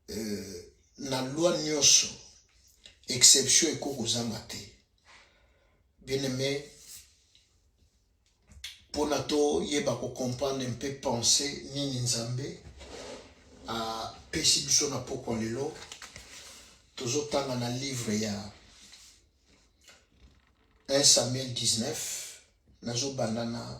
euh, na loi nyonso exception eko kozanga te bien aimé mpona toyeba kocomprendre mpe pense nini nzambe apesi biso na pokwa lelo tozotanga na livre ya 1 samuel 19 nazobanda na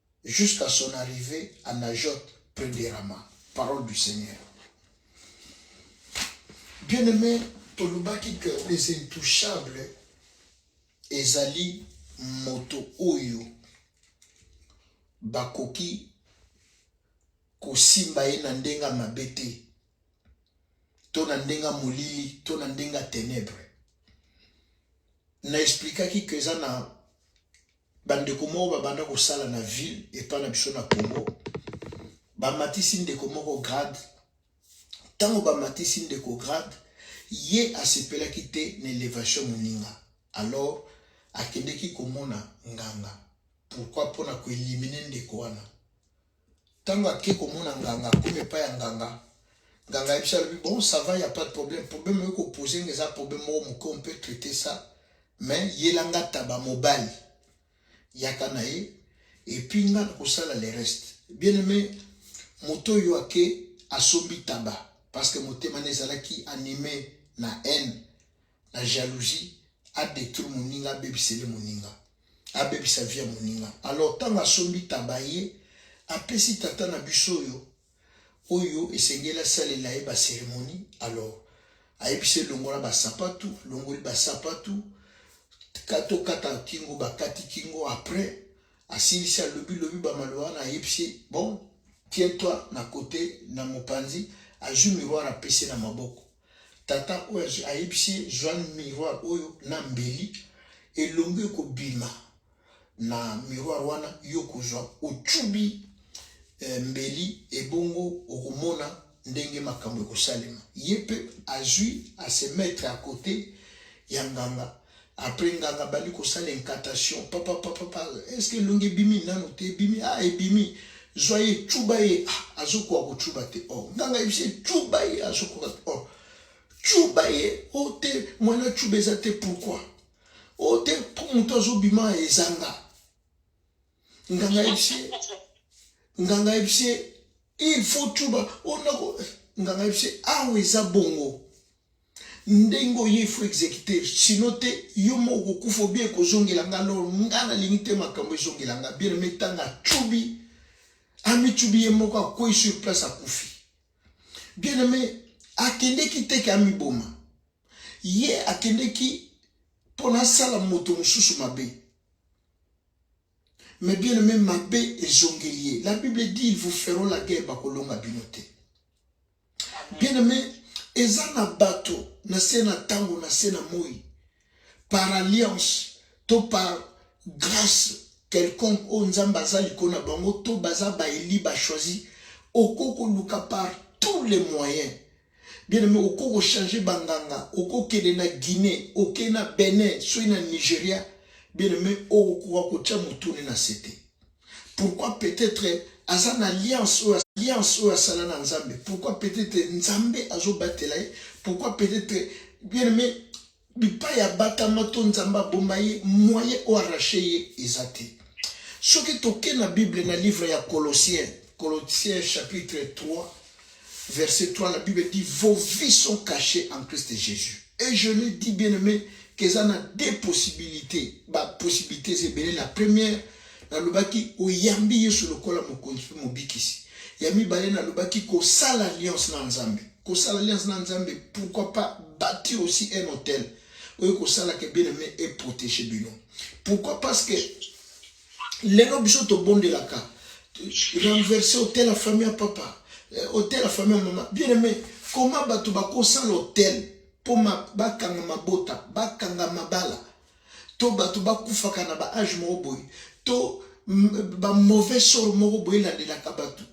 jusqu'à son arrivee à Najot près de Rama. Parole du Seigneur. Bien aimé, tolobaki que les intouchables ezali moto oyo bakoki kosimba ye na ndenge ya mabe te to na ndenge ya molili to na ndenge ya tenebre na esplikaki ke eza na Bandeko moko babanda kosala na ville epai na biso na Congo, bamatisi ndeko moko grade. Ntango bamatisi ndeko grade, ye asepelaki te na elevation moninga, alors akendeki komona nganga. Pourquoi? Mpo na koelimine ndeko wana. Tango ake komona nganga akomi epai ya nganga nganga ayebisi alobi bon ça va ya pas de problème problème oyo kopose nga eza problème moko moke on peut traiter ça mais yela nga taba mobali yaka na ye epuis nga nakosala le reste bien aimé moto oyo ake asombi taba parce que motema na ezalaki anime na haine na jalousie a détruire moninga abebisele moninga abebisa vie ya moninga alors ntango asombi taba ye apesi tata na biso oyo oyo esengeli asalela ye baceremonie alors ayebisi elongola basapatu alongoli basapatu tokata kingo bakati kingo après asilisi alobilobi bamaloba wana ayebisi bon tiens toi na kote na mopanzi azwi miroir apesi na maboko Tata oyo azwi ayebisi ye zwa miroir oyo na mbeli, elongi ekobima na miroir wana, yo kozwa ocubi eh, mbeli, ebongo okomona ndenge makambo ekosalema. Ye mpe azwi ase mettre à côté ya nganga Après nganga bandi kosala incantation papa papa pa est-ce que elongi ebimi nanu te ebimi ah ebimi zwa ye cuba ye ah azokoka kocuba te oh nganga yebisi ye cuba ye azokoka te oh cuba ye o oh, te mwana cuba eza te pourquoi o oh, te mpo moto azobima ezanga nganga yebisi ye nganga yebisi ye il faut tuba onako oh, nganga yebisi ye awa eza bongo ndenge oye ifo exécuter sino te yo moko kokufa obi ekozongela nga lor nga nalingi te makambo ezongela nga bien me ntango acubi amicubi ye moko akwei sur place akufi bien aime akendeki te ke amiboma ye akendeki mpo nasala moto mosusu mabe Mais bien aimé mabe ezongeli ye. La Bible dit ils vous feront la guerre bakolonga bino te. Bien aimé eza na bato na se na ntango na se na moi par alliance to par grâce quelconque oyo nzambe aza likolo na bango to baza baeli bachoisi okoki koluka par tous les moyens Bien aimé, oko ko changer banganga, oko kende na Guinée, oke na Benin, soki na Nigeria, bien aimé, okokoka kotia motune na sete. Pourquoi peut-être aza na alliance oyo alliance oyo asala na Nzambe? Pourquoi peut-être Nzambe azobatela ye? Pourquoi peut-être bien aimé Bipai ya batama to Nzambe aboma ye, moyen o arracher ye eza te. Soki toke na Bible na livre ya Colossiens, Colossiens chapitre 3 verset 3, la Bible dit vos vies sont cachées en Christ Jésus. Et je l'ai dit bien aimé, qu'eza na deux possibilités, ba possibilités ebele. La première Nalobaki, oyambi Yesu lokola mokonzi mpe mobikisi. Ya mibale, nalobaki kosala alliance na Nzambe. Kosala alliance na Nzambe, pourquoi pas bâtir aussi un hôtel oyo kosala ke bien aimé et protéger bino. Pourquoi? Parce que lelo biso tobondelaka renverser hôtel ya famille ya papa, euh, hôtel ya famille ya mama. Bien aimé, comment bato bakosala hôtel mpo bakanga mabota, bakanga mabala to bato bakufaka na ba age moko boye to ba mauvais sort moko boye elandelaka bato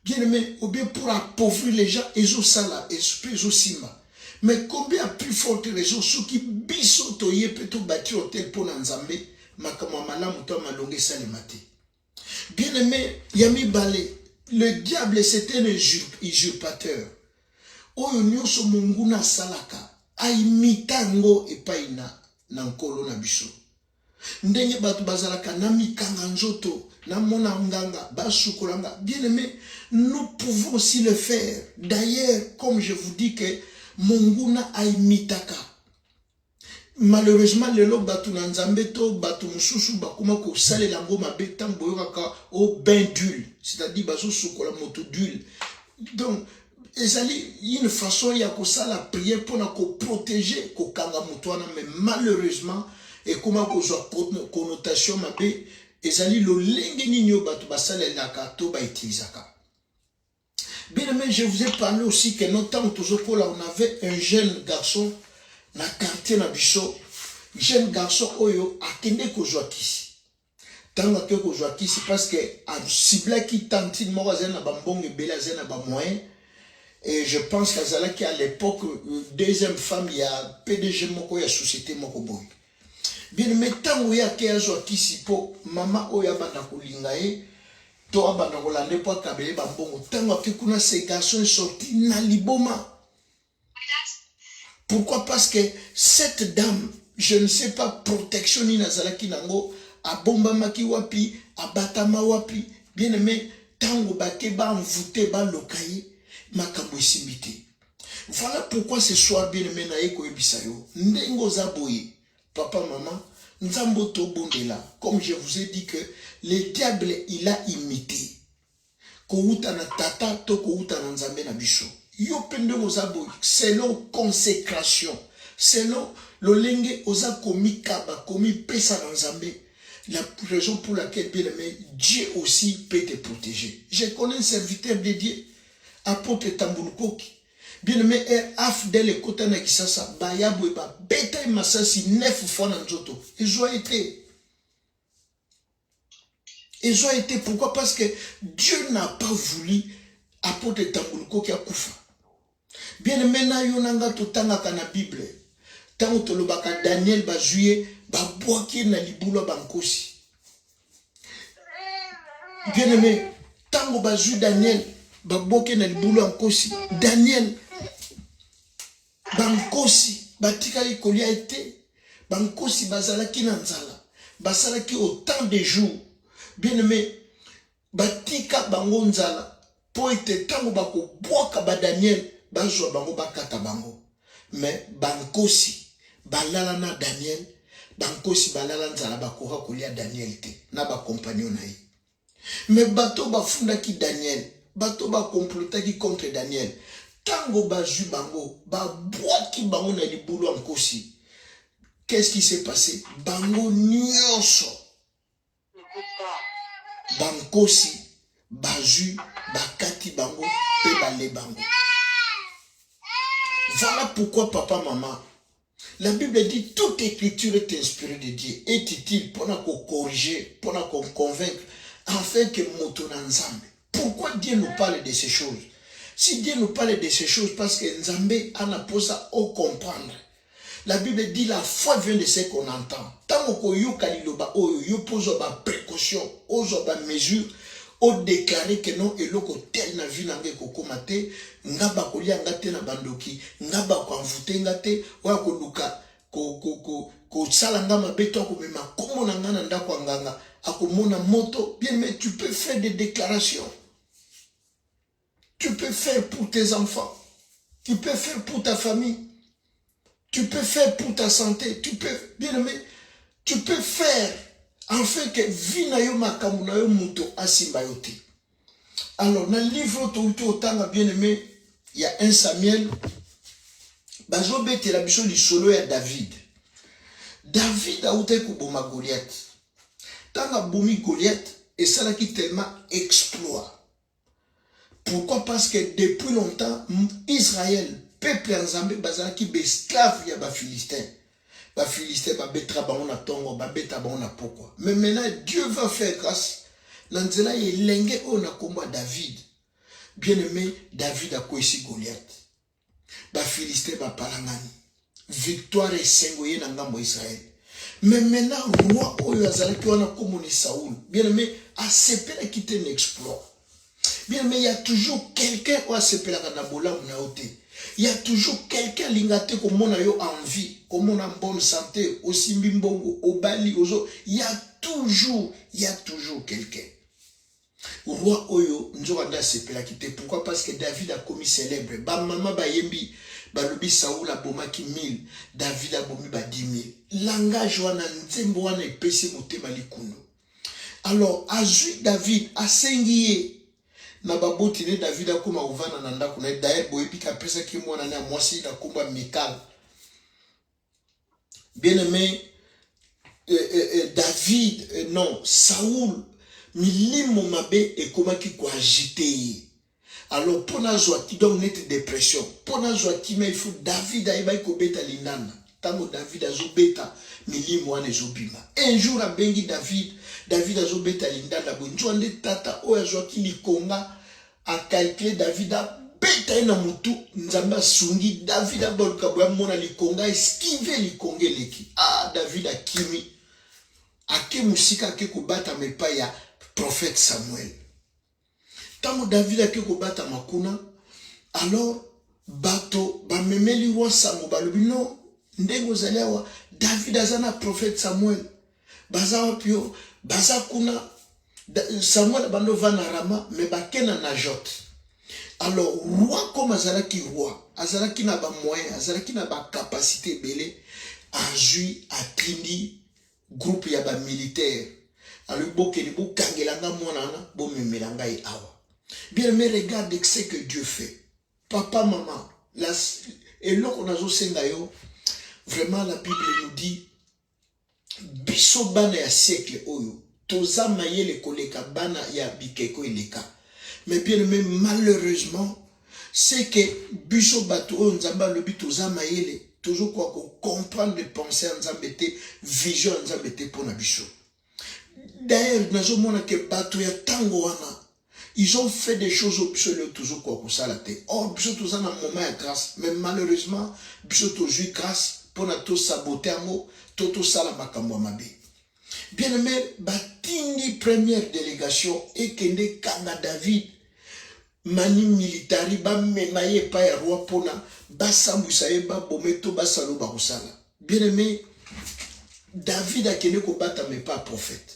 bien aimé ou bien pour appauvrir les gens ezosala mpe ezosimba mais combien ya plus forte raison soki biso toye mpe tobati hotel mpo na nzambe makambo ya malamu to ya malonga esalema te Bien aimé, ya mibale, le diable c'est un usurpateur. Oyo nyonso monguna asalaka, aimita yango epai na, na nkolo na biso. Ndenge bato bazalaka na mikanga nzoto, na mona nganga, basukola nga. Bien aimé, nous pouvons aussi le faire. D'ailleurs, comme je vous dis que monguna aimitaka Malheureusement lelo batu na Nzambe to batu mususu bakoma kosalela yango mabe ntango boyokaka o oh, bain d'huile c'est-à-dire bazosukola moto d'huile donc ezali une façon ya kosala prière mpona koprotege kokanga moto wana mais malheureusement ekoma kozwa connotation mabe ezali lolenge nini oyo bato basalelaka to bautilisaka Bien aimé, je vous ai parlé aussi que notre temps tozokola, on avait un jeune garçon na quartier na biso, jeune garçon oyo akende kozwa kisi. Tango akende kozwa kisi parce que aciblaki tantine moko azali na bambongo ebele, azali na ba moyens. Et je pense qu'azalaki à l'époque deuxième femme ya PDG moko ya société moko boye. Bien mais ntango ye ake azwa kisi mpo mama oyo abanda kolinga ye to abanda kolanda ye mpo akabela ye bambongo ntango ake kuna ce garçon est sorti na liboma pourquoi parce que cette dame je ne sais pas protection nini azalaki nango abombamaki wapi abatama wapi bien aime ntango bake baenvoute baloka ye makambo esimbi te Voilà pourquoi ce soir bien aimé naye koyebisa yo ndenge oza boye papa mama nzambe tobondela comme je vous ai dit que le diable il a imité kowuta na tata to kowuta na nzambe na biso yo mpe ndenge oza boye selon consécration selon lolenge oza komikaba komipesa na nzambe la raison pour laquelle bien aimé dieu aussi peut te protéger je connais un serviteur de dieu Apotre Tambulukoki bien aimé er afdel ekota na kisasa bayabwe babeta ye masasi 9 fois na nzoto ezwa ye te ezwa ye te pourquoi parce que dieu n'a pas voulu apôtre tambulukoki akufa bien aimé na yo na nga totangaka na bible ntango tolobaka daniel bazwi ye babwaki ye na libulu ya bankosi bien aimé ntango bazwi daniel baboke na libulu ya nkosi daniel bankosi batikaki kolia ye te bankosi bazalaki na nzala basalaki autant de jour bien aimé batika bango nzala mpo ete ntango bakobwaka Badaniele, bazwa bango, bakata bango. Me bankosi balala na Daniele, bankosi balala nzala, bakoka kolia Daniele te na bakompanio na ye. Me bato bafundaki Daniele, bato bakomplotaki contre Daniele, ntango bazwi bango, babwaki bango na libulu ya nkosi. Qu'est-ce qui s'est passé? Bango nyonso bankosi bazwi bakati bango mpe bale bango voilà pourquoi papa mama la bible dit toute écriture est inspirée de dieu est utile mpona kocorrige mpona koconvaincre afin que moto na nzambe pourquoi dieu nous parle de ces choses si dieu nous parle de ces choses parce que nzambe ana mposa ocomprendre oh, La Bible dit la foi vient de ce qu'on entend. Tant qu'on yoka liloba oyo, yo pose ba précaution, ozo ba mesure, o déclarer que non eloko tel na vie nanga ekokoma te, nga ba kolia nga te na bandoki, nga ba ko envoûter nga te, oya ko luka ko ko ko ko sala nga mabe to ko mema kombo na nga na ndako ya nganga, akomona moto. Bien mais tu peux faire des déclarations. Tu peux faire pour tes enfants. Tu peux faire pour ta famille. Tu peux faire pour ta santé. Tu peux, bien aimé, tu peux faire en fait que vie na yo makambo na yo moto asimba yo te. Alors, na livre oyo touti otanga bien aimé ya 1 Samuel, bazobetela biso lisolo ya David. David autaki koboma Goliath. Ntango abomi Goliath, esalaki tellement exploit Pourquoi? Parce que depuis longtemps, Israël, peuple ya Nzambe, bazalaki besclave ya Bafilistin. Bafilistin babetaka bango na tongo, babeta bango na pokwa. Mais maintenant, Dieu va faire grâce na nzela ya elenge oyo na kombo ya David. Bien-aimé, David akwesi Goliath. Bafilistin bapalangani, victoire esengo ye na ngambo ya Israele. Mais maintenant roi oyo azalaki wana kombo ni Saul, bien aimé asepelaki te na exploit. Bien aimé, il y a toujours quelqu'un oyo asepelaka na bolamu na yo te. Il y a toujours quelqu'un alinga te komona yo en vie, komona en bonne santé, osimbi mbongo, obali, ozo. Il y a toujours, il y a toujours quelqu'un. Roi oyo nzoka nde asepelaki te pourquoi parce que David akomi celebre ba mama bayembi balobi Saul abomaki 1000 David abomi ba 10000 langage wana nzembo wana epesi motema likundu alors azwi David asengi ye na baboti ne David akoma kovanda na ndako na ye d'ailleurs boyebi ke apesaki ye mwana na mwasi na nkombo ya Mikal Bien aimé, euh, euh, euh, David, euh, non, Saoul, milimo mabe ekomaki koagite ye alors mpo nazwa ki donc neti dépression mpo nazwa kimia il faut david ayebaki kobeta linana ntango david azobeta milimo wana ezobima un jour abengi david david azobeta lindanda boye nzwa nde tata oyo azwaki likonga akalkile david abeta ye na motu nzambe asungi david abaluka boye amona likonga eskive likonga eleki a ah, david akimi ake mosika ake kobatama epai ya profete samuel ntango david ake kobatama kuna alors bato bamemeli wa sango balobi no ndenge ozali awa david aza na profete samuel Baza wapi yo? Baza kuna. Samuel abandi ovanda Rama, me bake na Najot. Alors, roi comme azalaki roi, azalaki na ba moyen, azalaki na ba capacité ebele, azwi atindi groupe ya ba militaire. Alobi bokende bokangela nga mwana wana, bomemela ngai awa. Bien aimé, regarde ce que Dieu fait. Papa, maman, la, eloko nazosenga yo, vraiment la Bible nous dit Biso bana ya siècle oyo toza mayele koleka bana ya bikeko eleka mais bien aime malheureusement c'est que biso bato oyo nzambe alobi toza mayele tozokoka kocomprendre pense ya nzambe te vision ya nzambe te mpo na biso d'ailleurs nazomona ke bato ya ntango wana Ils ont fait des choses oyo biso lelo tozo koka kosala te. Or biso toza na moment ya grace mais malheureusement biso tozui grace pona to saboter yango to tosala makambo ya mabe. Bien aime, batindi première delegation ekende kanga David mani militari bamema ye epai ya roi mpona basambwisa ye babome to basala oyo bakosala bien aime david akende kobatama epai ya profete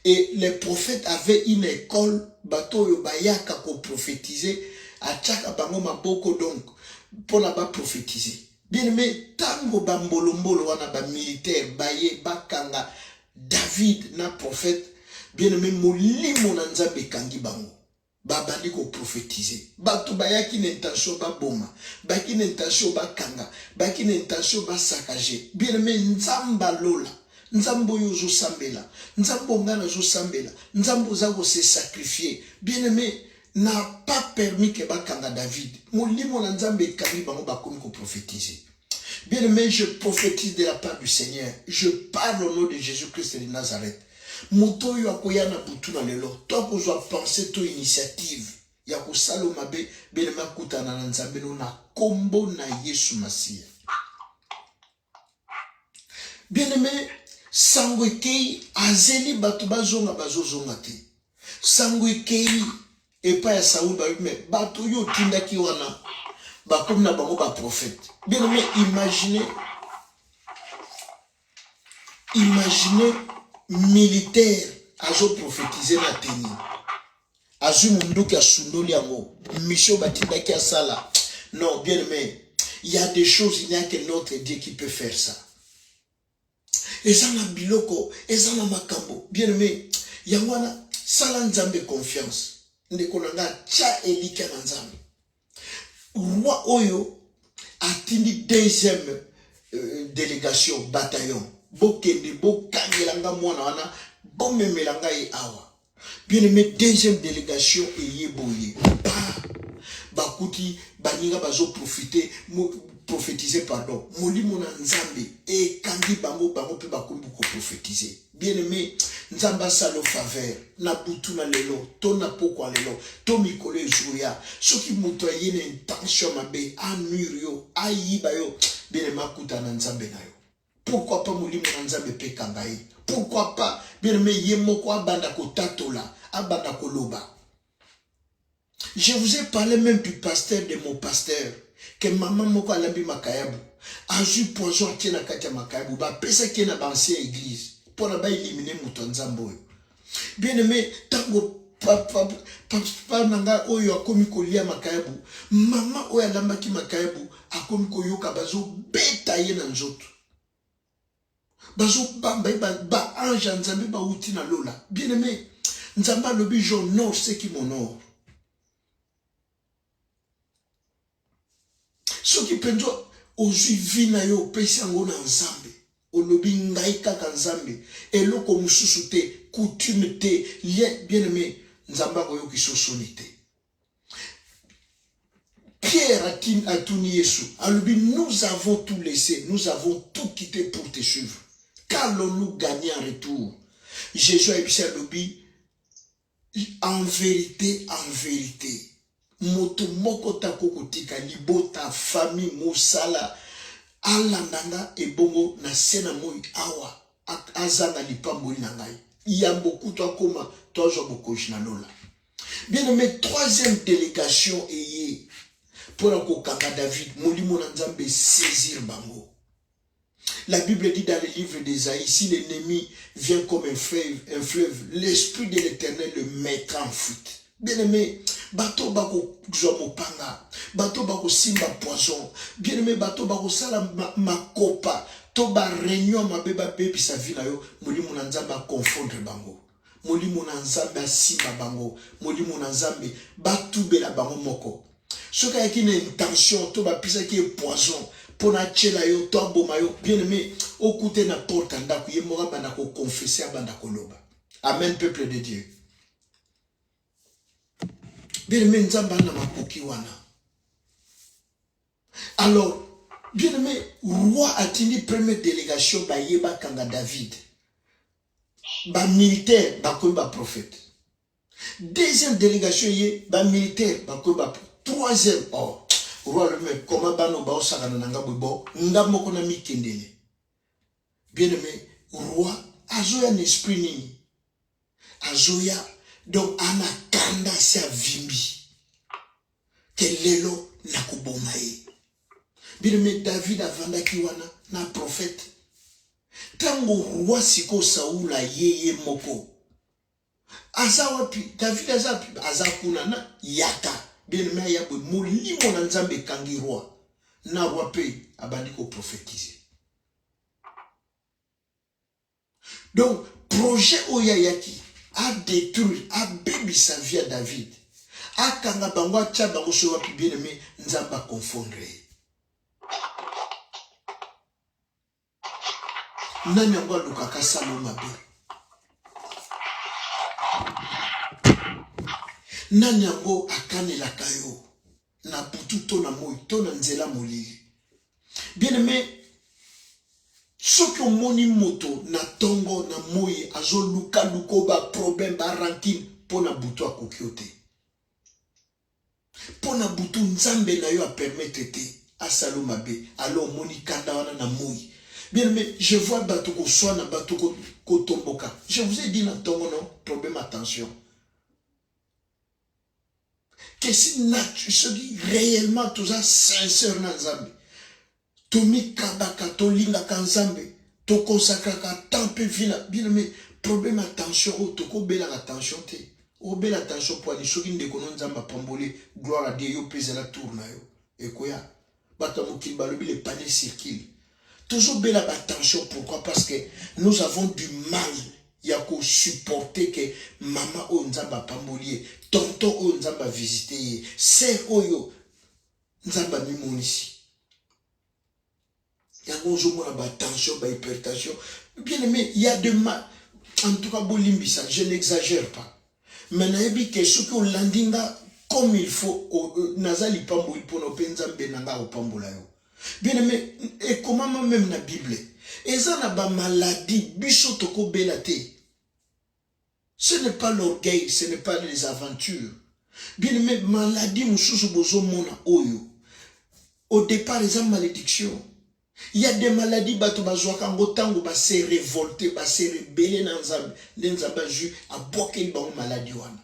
Et les prophètes avaient une école, bato oyo bayaka ko prophétiser, atiaka bango maboko donc pona ba prophétiser. Bien aimé, tango ba mbolo mbolo wana ba militaires baye bakanga David na prophète, bien aimé molimo na Nzambe ekangi bango. Babandi ko profetize. Batu bayaki na intention baboma, bayaki na intention bakanga, bayaki na intention ba saccager. Bien aime, Nzambe ya lola, Nzambe oyo ozo sambela, Nzambe oyo nga nazo sambela, Nzambe oza ko se sacrifier. Bien aime, n'a pas permis que bakanga David. Molimo na Nzambe ekangi bango bakomi ko profetize. Bien aimé, je prophétise de la part du Seigneur. Je parle au nom de Jésus-Christ de Nazareth. moto oyo akoya na butu na lelo to akozwa pense to initiative ya kosala mabe belema akutana na nzambe no na nkombo na yesu masiya bien-aime sango ekei azeli bato bazonga bazozonga te sango ekei epai ya Saul bayoki me bato oyo otindaki wana bakomi na bango baprofete bien aime imagine imagine militaire azoprofetize na teni azwi monduki asundoli yango mission batindaki asala non bien aime il y a des choses il n'y a que notre dieu qui peut faire ça eza na biloko eza na makambo bien aime yango wana sala nzambe confiance ndeko na nga tya elikya na nzambe roi oyo atindi deuxième euh, délégation bataillon bokende bokangela nga mwana wana bomemela ngai awa Bien aimé, deuxième délégation eye boye. Ah, bakuti baninga bazo profiter prophétiser pardon molimo na nzambe ekangi bango bango mpe bakomi koprofetize bien aimé nzambe asalo faveur na butu na lelo to na pokwa lelo to mikolo ezoya soki moto aye na intention mabe anuire yo ayiba yo bien aimé akuta na nzambe na yo Pourquoi pas molimo na Nzambe mpe kanga ye? Pourquoi pas bien-aimé ye moko abanda kotatola, abanda koloba. Je vous ai parlé même du pasteur de mon pasteur que mama moko alambi makayabu azwi poison atie na kati ya makayabu bapesaki ye na baancien église mpo na baelimine moto ya Nzambe oyo Bien aimé, tango papa papa na ngai oyo akomi kolia makayabu, mama oyo alambaki makayabu akomi koyoka bazobeta ye na nzoto, bazobamba ye baange ya Nzambe bauti na lola. Bien aimé, Nzambe alobi j'honore ceux qui m'honorent. soki mpenza ozwi vi na yo opesi yango na nzambe olobi ngai kaka nzambe eloko mosusu te coutume te lien bien aimé nzambe akoyokisa osoni te pierre atuni yesu alobi nous avons tout laissé nous avons tout quitté pour te suivre qu'allons-nous gagner en retour jésus ayebisi alobi En verite, en verite, moto moko te akoki kotika libota, famille, mosala, alanda nga ebongo na se na moi awa azanga lipamboli na ngai, yambo kutu akoma to azwa bokonzi na lola. Bien aime, troisième delegation eye mpo na kokanga David, molimo na Nzambe esaisir bango. La Bible dit dans le livre d'Esaïe, si l'ennemi vient comme un fleuve, un fleuve l'Esprit de l'Éternel le mettra en fuite. Bien-aimé, bato bakozwa mopanga, bato bakosimba poison. Bien-aimé, bato bakosala makopa to bareunion mabe babebisa vi na yo, molimo na Nzambe akonfondre bango. Molimo na Nzambe asimba bango. Molimo na Nzambe batubela bango moko. Soki ayaki na intention to bapesaki ye poison mpo na atyela yo to aboma yo bien aime okute na porte ya ndako ye moko abanda koconfese abanda koloba amen peuple de dieu bien aime nzambe ana makoki wana alors bien aime roi atindi première délégation baye bakanga david ba militaire bakomi ba prophète deuxième délégation ye ba militaire bakomi ba troisième or oh, roi lome koma bano baosakana na nga bobo nga moko na mikendele bien aimé roi azoya na esprit nini azoya donc ana kanda si avimbi ke lelo nakoboma ye bino me david avandaki wana na profete ntango roi sikoyo saul aye ye moko aza wapi david aza wapi aza kuna na yaka bieneme aya boye molimo na nzambe ekangi roi na roi mpe abandi koprofetize Donc projet oyo ayaki a detruire a bebisa vie ya David akanga bango atia bango soki wapi bien aime nzambe aconfondre ye nani yango alukaka salo mabe nani yango akanelaka yo Na butu to na moi to na nzela molili. Bien aime, soki omoni moto na tongo na moi azoluka luko ba problème ba rancune mpo na butu akoki yo te mpo na butu nzambe na yo apermettre te asala yo mabe alo omoni kanda wana na moi bien aime je vois bato koswana bato kotomboka je vous ai dit na ntongo no problème attention que si natu soki réellement toza sincère na nzambe tomikabaka tolingaka nzambe tokonsakraka temps mpe vi na bino me problème ya tension oyo tokobelaka tension te obela tension poani soki ndeko no nzambe apamboli gloire a dieu yo mpe ezala tour na yo ekoya bato ya mokili balobi le panier circule tozobela batension pourquoi parce que nous avons du mal ya kosupporte ke mama oyo nzambe apamboli ye tonton oyo nzambe avisite ye ser oyo nzambe amimonisi yango ozomona batension bahypertension bien aime ya de mal en tout cas bolimbisa je n'exagère pas Mais nayebi ke soki olandi nga comme il faut euh, naza lipamboli mpo na mpe nzambe na ngai akopambola yo bien aime ekomama meme na bible eza na bamaladi biso tokobela te ce n'est pas l'orgueil ce n'est pas les aventures bien aime maladi mosusu bozomona oyo au départ eza malédiction Il y a des maladies bato bazwaka yango ntango ba se revolte ba se rebele na nzambe nde nzambe azwi abwakeli bango maladi wana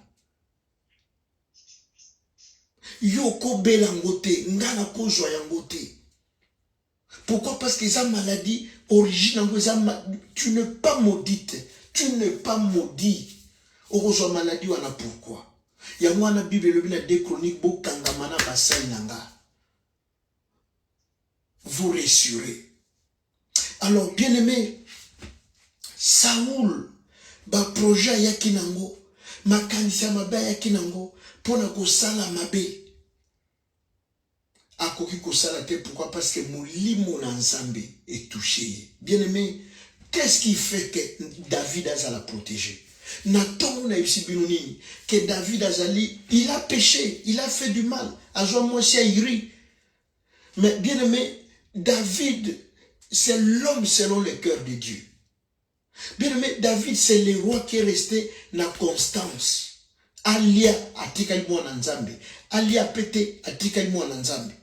yo okobela yango te ngai nakozwa yango te pourquoi parce que eza maladie origine yango eza tu ne pas maudite tu ne pas maudit okozwa maladie wana pourquoi yango wana bible elobi na de chronique bokangama na basali na ngai vous rassurer. Alors, bien aimé, Saoul, ba projet ayaki nango, makanisi ya mabe ayaki nango mpo na kosala mabe. Akoki kosala te pourquoi? Parce que molimo na Nzambe etouche ye. Bien aimé, qu'est-ce qui fait que David azala protégé? Na tongo na yebisi bino nini? Que David azali, il a peche, il a fait du mal, azwa mwasi ya Uri. Mais bien aimé, David, c'est l'homme selon le cœur de Dieu. Bien aimé, David, c'est le roi qui est resté na constance. Alia atikali mwana Nzambe, alia pete atikali mwana Nzambe.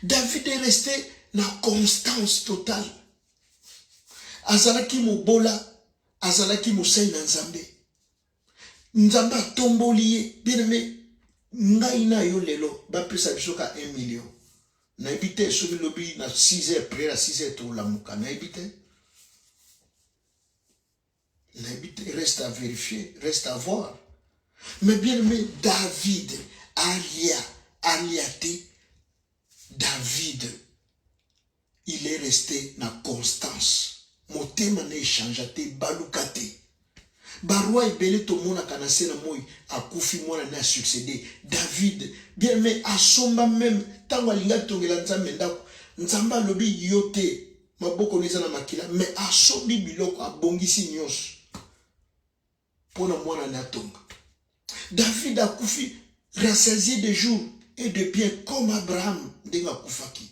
David est resté na constance totale. Azalaki mobola, azalaki mosali na Nzambe. Nzambe atomboli ye, bien aimé. Ngai na yo lelo bapesa biso ka 1 million. Nayebi te soki lobi na 6 heures prière na 6 heures tolamuka, nayebi te. nayebi te reste à vérifier reste à voir mais bien aimé david alia alia te david il est resté na constance motema na echangea te baluka te baroi ebele tomonaka na se na moi akufi mwana ne asuccédé david bien aimé asomba meme ntango alingaki tongela nzambe ndako nzambe alobi yo te maboko eza na makila me asombi biloko abongisi nyonso mpo na mwana na atonga david akufi rassaisie de jour et de bien comme abraham ndenge akufaki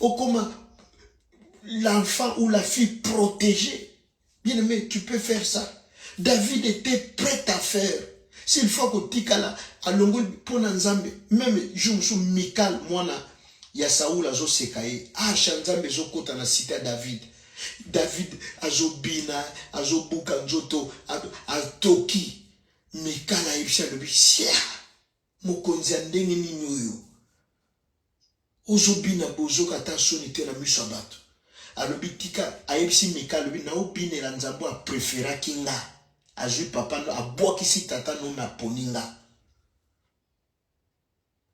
okoma l'enfant ou la fille protégée bien aimé tu peux faire ça david était prêt à faire s'il faut kotikala alongoli mpo na nzambe meme jour mosusu mikal mwana ya saul azoseka ye arsha nzambe ezokota na site ya david david azobina azobuka nzoto atoki mikal ayebisi alobi sia Mokonzi ya ndenge nini oyo? Ozo bina bozoka ata soni te na miso ya batu. Alobi tika ayebisi Mika alobi nao binela Nzambe oyo a preferaki nga. Azui papa no abwakisi tata no me aponi nga.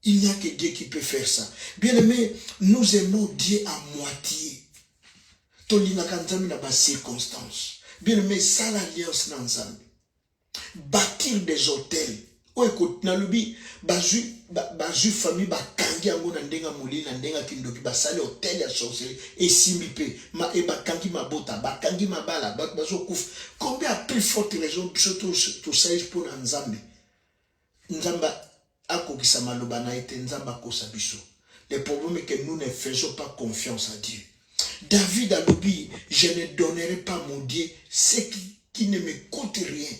Il n'y a que Dieu qui peut faire ça. Bien aimé, nous aimons Dieu à moitié. Tolingaka Nzambe na ba circonstances. Bien aimé, sala alliance na Nzambe. bâtir des hôtels oyo ekoti nalobi bazwi bazwi famille bakangi yango na ndenge ya molili na ndenge ya kindoki basali hotel ya sorcerie esimbi mpe ma, e bakangi mabota bakangi mabala bato bazokufa combien à plus forte raison biso tosali mpo na nzambe Nzambe akokisa maloba na ye te, Nzambe akosa biso. Le problème est que nous ne faisons pas confiance à Dieu. David a dit, je ne donnerai pas mon Dieu ce qui, qui ne me coûte rien.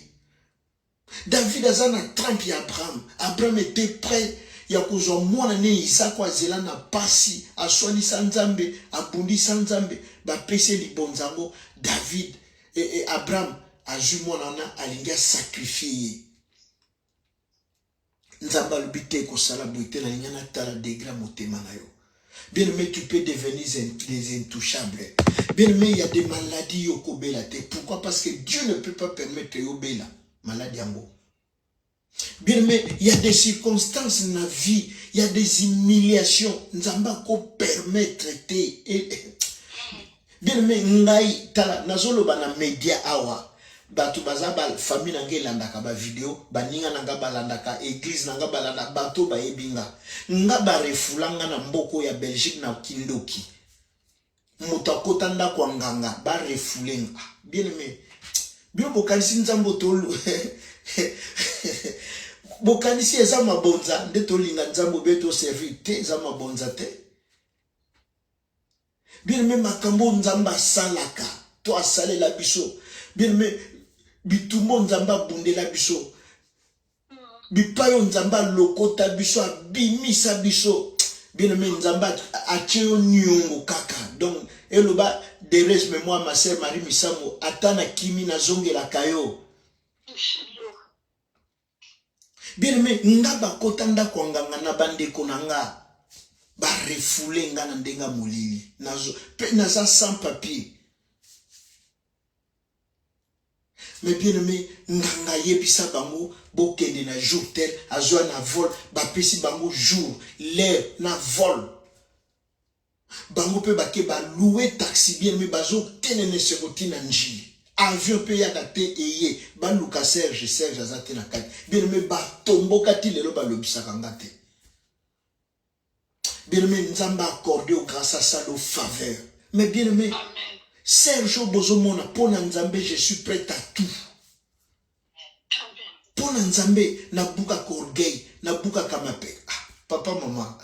David a na trempe ya Abraham. Abraham était prêt ya kozwa mwana ne Isaac azela na pasi, aswanisa Nzambe, abundisa Nzambe, bapesi libonza yango David et, et Abraham azwi mwana wana alingi asakrifie ye. nzambe alobi te kosala boye te nalingi natala degre ya motema na yo bien aimé tu peux devenir des intouchables bien aimé ya des maladies yo okobela te pourquoi parce que dieu ne peut pas permettre yo obela maladi yango bien aimé ya des circonstances na vie ya des humiliations nzambe akopermettre te eh, eh. bien me ngai tala nazoloba na media awa bato baza ba famille na ngai elandaka bavideo baninga na ngai balandaka eglize na ngai balandaka bato bayebi nga nga barefula nga na mboko ya belgique na kindoki moto akota ndako ya nganga barefule nga bien aime bino bokanisi nzambe tolu bokanisi eza mabonza nde tolinga nzambe obe toservi te eza mabonza te Bien aime makambo oyo Nzambe asalaka to asalela biso. Bien aime bitumba oyo Nzambe abundela biso. Bipai oyo Nzambe alokota biso, abimisa biso. Bien aime Nzambe atie yo niongo kaka. Donc eloba Derez memoire ma sœur Marie Misamu ata na kimi nazongelaka yo. Bien aimé, nga bakota ndako ya nganga na bandeko na nga ba refoule nga na ndenge ya molili nazo pe naza sans papier mais bien aimé nganga ayebisa bango bokende na jour tel azwa na vol bapesi bango jour l'heure na vol Bango pe bake ba loue taxi bien mais bazo tenene esengo ti na ndjili avion pe eyaka te eye baluka serge serge aza te na kati bien mais ba tomboka ti lelo ba lobisaka nga te bien mais nzambe a accorde yo grace a salo faveur mais bien mais serge oyo bozo mona pona nzambe je suis prête à tout Mpo na Nzambe, nabukaka orgueil, nabukaka mapeka. Ah, papa mama,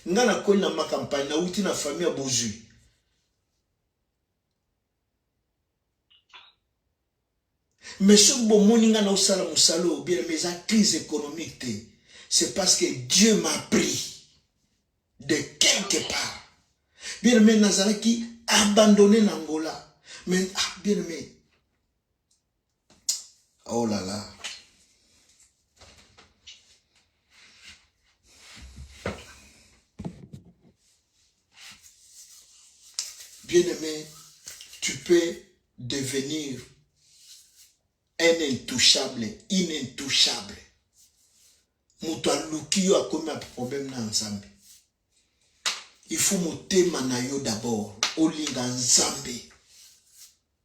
nga nakweli na ma campagne, nauti na famille ya bozwi. Mais soki bomoni nga naosala mosala oyo bien, mais eza crise économique te. C'est parce que Dieu m'a pris de quelque part. Bien aimé, nazalaki abandonné na Angola. Mais ah, bien aimé, Oh là là. Bien-aimé, tu peux devenir un intouchable, inintouchable. Moto aluki yo akomi a problème na Nzambe. Il faut motema na yo d'abord, olinga Nzambe.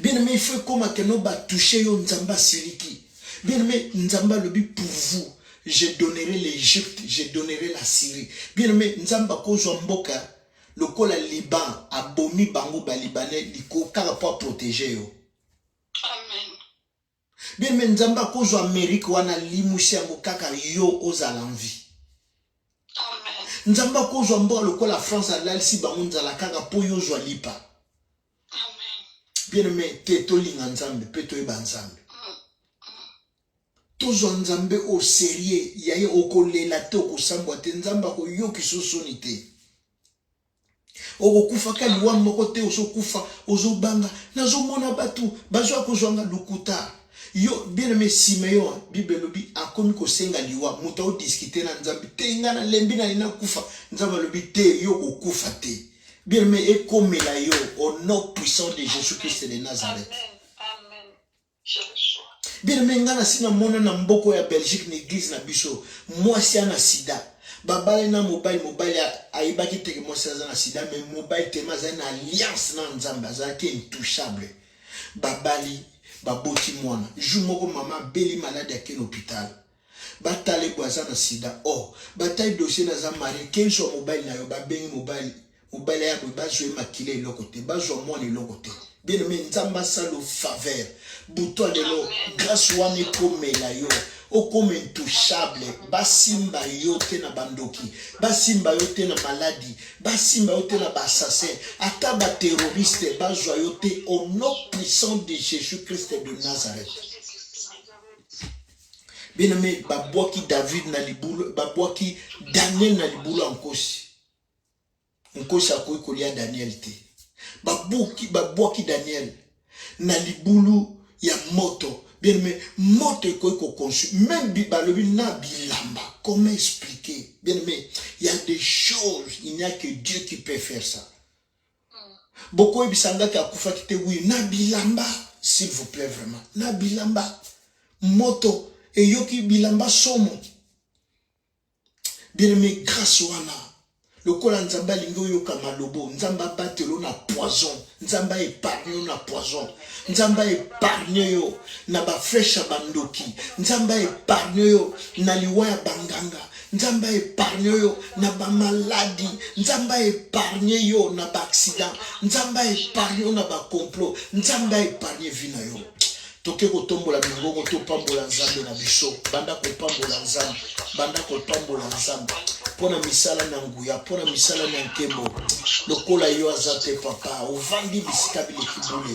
Bien aimé, il faut ekoma que no ba toucher yo Nzambe asiliki. Bien aimé, Nzambe alobi pour vous, je donnerai l'Égypte, je donnerai la Syrie. Bien aimé, Nzambe akozwa mboka lokola Liban abomi bango ba Libanais liko kaka pour protéger yo. Amen. Bien mais nzambe akozwa Amerique wana limusi yango kaka yo ozala en vie nzambe akozwa mboka lokola france alalisi bango nzala kaka mpo yo ozwa lipa bien aime te tolinga nzambe mpe toyeba nzambe tozwa nzambe au serieux yaye okolela te okosambwa te nzambe akoyokisa osoni te Okokufa ka liwa moko te ozo kufa ozo banga nazo mona batu bazo ya kozwa nga lokuta yo bien aime Simeon bible elobi akomi kosenga liwa moto ao discuter na nzambe te nga na lembi na lina kufa nzambe alobi te yo kokufa te bien aime ekomela yo au nom puissant de Jésus Christ de Nazareth Amen. Amen. Bien-aimé, nga na sina mona na mboko ya Belgique na église na biso, mwasi ana sida. Babale na mobali, mobali ayebaki te ke mwasi aza na sida, mais mobali tellement azali na alliance na Nzambe, azalaki intouchable. Babali, baboti mwana. Jour moko mama abeli malade ake na hôpital. Ba tale boye aza na sida oh ba tale dossier na aza marie ken soit mobali na yo ba bengi mobali mobali ya boye bazwa ye makila eloko te bazwa mwana eloko te bien aimé nzambe asalo faveur buto lelo grâce wana ekomela yo okoma intouchable basimba yo te na bandoki basimba yo te na maladi basimba yo te na baassassin ata baterroriste bazwa yo te au nom puissant de jésus christ de nazareth bien aime babwaki david na libulu babwaki daniel na libulu ya nkosi nkosi akoki kolia daniel te babuki babwaki daniel na libulu ya moto bien aime moto ekoki kokonsu meme balobi na bilamba comment expliquer bien aime il y a des choses il n'y a que dieu qui peut faire ça bokoyebisa nga ke akufaki te wi na bilamba s'il vous plaît vraiment na bilamba moto eyoki bilamba somo bieneme grâce wana lokola nzambe alingi oyoka malobo nzambe abatelo na poison nzambe aepargne yo na poison nzambe aepargne yo na bafreshe ya bandoki nzambe aepargne yo na liwa ya banganga Nzambe a épargne yo na ba maladi, Nzambe a épargne yo na ba accident, Nzambe a épargne yo na ba complot, Nzambe a épargne vie na yo. toke kotombola mingongo topambola nzambe na biso banda kopambola nzambe banda kopambola nzambe mpo na misala na nguya mpo na misala na nkembo lokola yo aza te papa ovandi bisika bileki bule